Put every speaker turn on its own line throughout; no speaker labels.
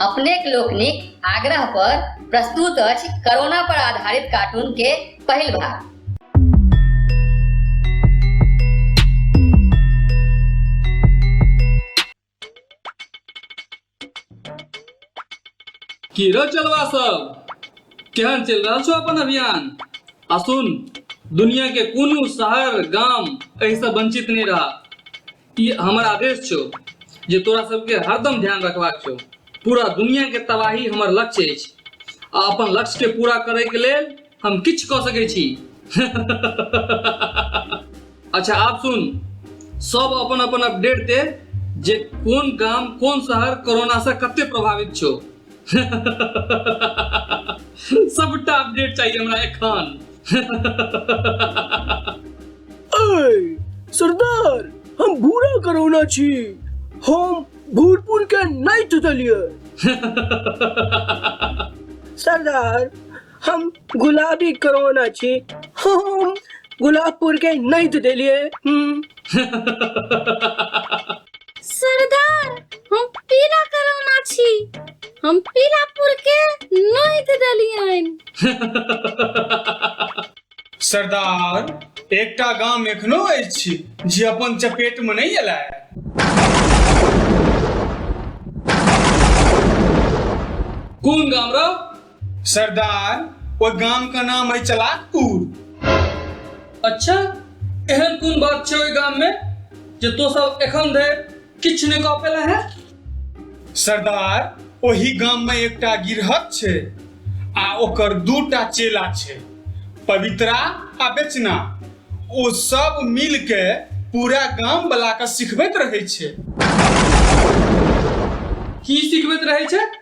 अपनेक लोकनिक आग्रह पर प्रस्तुत अछि कोरोना पर आधारित कार्टून के पहिल भाग की रो चलवा सब केहन चल रहल छो अपन अभियान आ सुन दुनिया के कोनो शहर गाम एहि से वंचित नहीं रहा ई हमर आदेश छौ जे तोरा सबके हरदम ध्यान रखबाक छौ पूरा दुनियाके तबाही हमर लक्ष्य अछि आ अपन लक्ष्यके पूरा करैके लेल हम किछु कऽ सकै छी अच्छा आप सुन सब अपन अपन अपडेट दे जे कोन गाम कोन शहर कोरोनासँ कते प्रभावित छौ सबटा अपडेट चाहिए हमरा एखन सरदार हम भूरा करौना छी हम भूरपुर के नाइट देलिए सरदार हम गुलाबी करोना छी हम गुलाबपुर के नहीं तो देलिए हम्म, सरदार हम पीला करोना छी हम पीलापुर के नोइत देलियन सरदार एकटा गाम एखनो अछि जे अपन चपेट में नहीं एला कोन गाम रौ सरदार ओहि गाम के नाम है चलाकपुर अच्छा एहन कोन बात छै ओहि गाम में जे तो सब एखन धरि किछु नहि कह पेला है सरदार ओहि गाम में एकटा गिरहत छै आ ओकर दूटा चेला छै पवित्रा आ बेचना ओ सब मिल के पूरा गाम वाला के सिखबैत रहे छै की सिखबैत रहे छै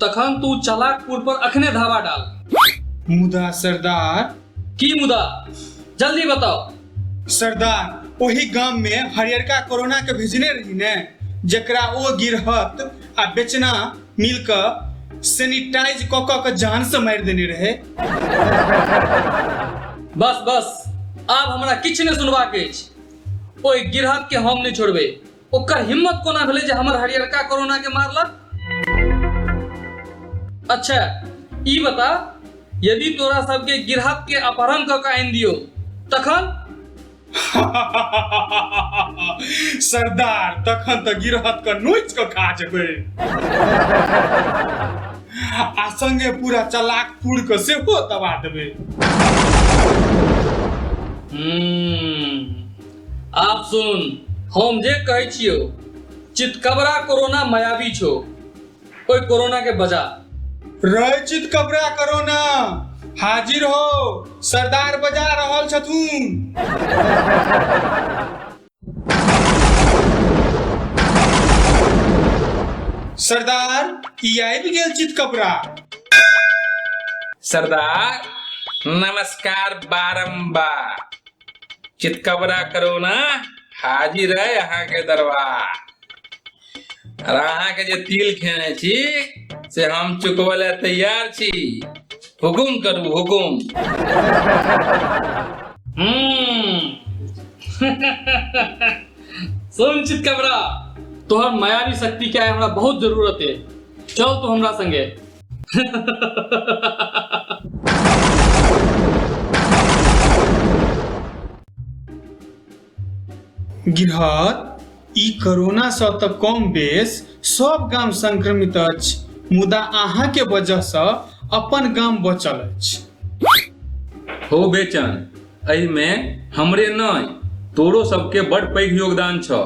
तखन तू चलाकपुर पर अखने धावा डाल मुदा सरदार की मुदा जल्दी बताओ सरदार ओही गाम में हरियरका कोरोना के भेजने रही ने जकरा ओ गिरहत आ बेचना मिल क सैनिटाइज क क के जान से मारि देने रहे बस बस आब हमरा किछु नहि सुनबाक अछि ओहि गिरहत के हम नहि छोड़बै ओकर हिम्मत कोना भेलै जे हमर हरियरका कोरोना के मारलक अच्छा ई बता यदि तोरा सबके गिरहत के अपहरण कऽ कऽ आनि दियो तखन सरदार तखन तऽ गिरहत के नोच के खा जेबै आ संगे पूरा चलाक पूर के सेहो दबा देबै हम्म, आप सुन हम जे कहै छियो चितकबरा कोरोना मायावी छो ओइ कोरोना के बजा रहै चित कबरा करो ना हाजिर हो सरदार बजा रहल छथुन सरदार ई आबि गेल चित कबरा सरदार नमस्कार बारंबार चितकबरा करो ना हाजिर है यहाँ के दरबार और अहाँ के जे तिल खेने छी से हम चुकबे ले तैयार छी हुकुम करू हुकुम हम्म। सुन चितकबरा तोहर मायावी शक्ति के हमरा बहुत जरूरत है चल तू हमरा संगे गिरहत ई कोरोना सँ तऽ कम बेस सब गाम संक्रमित अछि मुदा अहाँ के वजह सँ अपन गाम बचल अछि हो बेचन एहिमे हमरे नहि तोरो सबके बड़ पैघ योगदान छ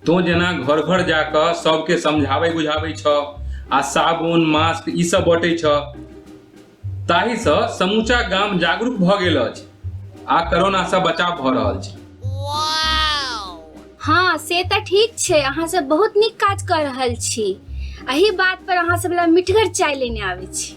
तो जेना घर घर जा क सबके समझाबै बुझाबै छ आ साबुन मास्क ई सब बटै छ ताहि स समूचा गाम जागरूक भ गेल अछि आ कोरोना स बचाव भ रहल छै हाँ से तऽ ठीक छै अहाँ सब बहुत नीक काज कऽ रहल छी एहि बात पर अहाँ सब लए मिठगर चाय लेने आबै छी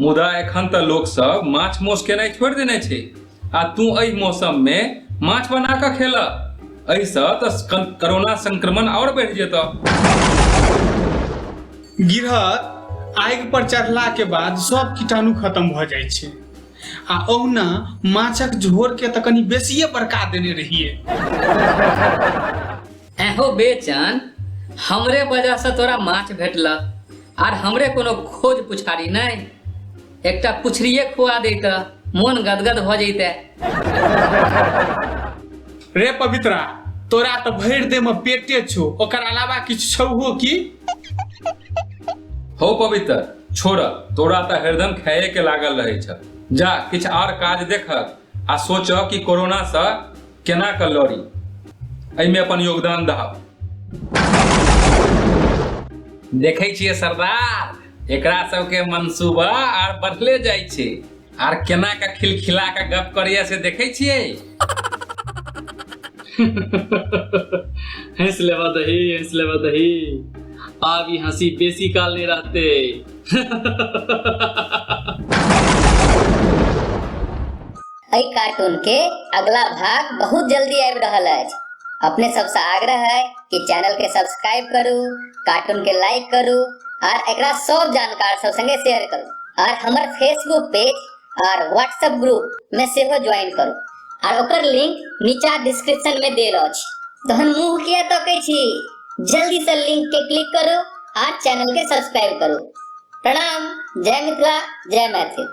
मुदा एखन तऽ लोक सब माछ मौस केनाइ छोड़ि देने छै आ तू एहि मौसम मे माछ बना कऽ खेल एहि सँ तऽ कोरोना संक्रमण आओर बढ़ि जेत गिरहत आगि पर चढ़ला के बाद सब कीटाणु खत्म भऽ जाइ छै आ ओहुना माछक झोर के तऽ कनि बेसिए बड़का देने रहिए एहो बेचन हमरे वजह से तोरा माछ भेटलक आर हमरे कोनो खोज पुछारी नहीं एकटा पुछरिए खुआ दैत मोन गदगद भ जैते रे पवित्रा तोरा तो भरि दे में पेटे छो ओकर अलावा किछु छौ की हो पवित्र छोड़ तोरा तो हरदम खाए के लागल रहे छ जा किछ आर काज देखक आ सोच कि कोरोना से केना कऽ लड़ी एहिमे अपन योगदान दहब देखै छियै सरदार एकरा सबके मनसूबा आर बढ़ले जाइ छै आर केना कऽ खिलखिला कऽ गप करैया से देखै छियै हंस लेबा दही हंस लेबा दही आब ई हंसी बेसी काल नहीं रहते एहि कार्टून के अगला भाग बहुत जल्दी आबि रहल अछि अपने सबसे आग्रह है कि चैनल के सब्सक्राइब करू कार्टून के लाइक करू और एक सब जानकार सब संगे शेयर करू और हमारे फेसबुक पेज और व्हाट्सएप ग्रुप में से ज्वाइन करू और ओकर लिंक नीचा डिस्क्रिप्शन में दे रहा तहन मुंह किया तो कह छी जल्दी से लिंक के क्लिक करो और चैनल के सब्सक्राइब करो प्रणाम जय मिथिला जय मैथिल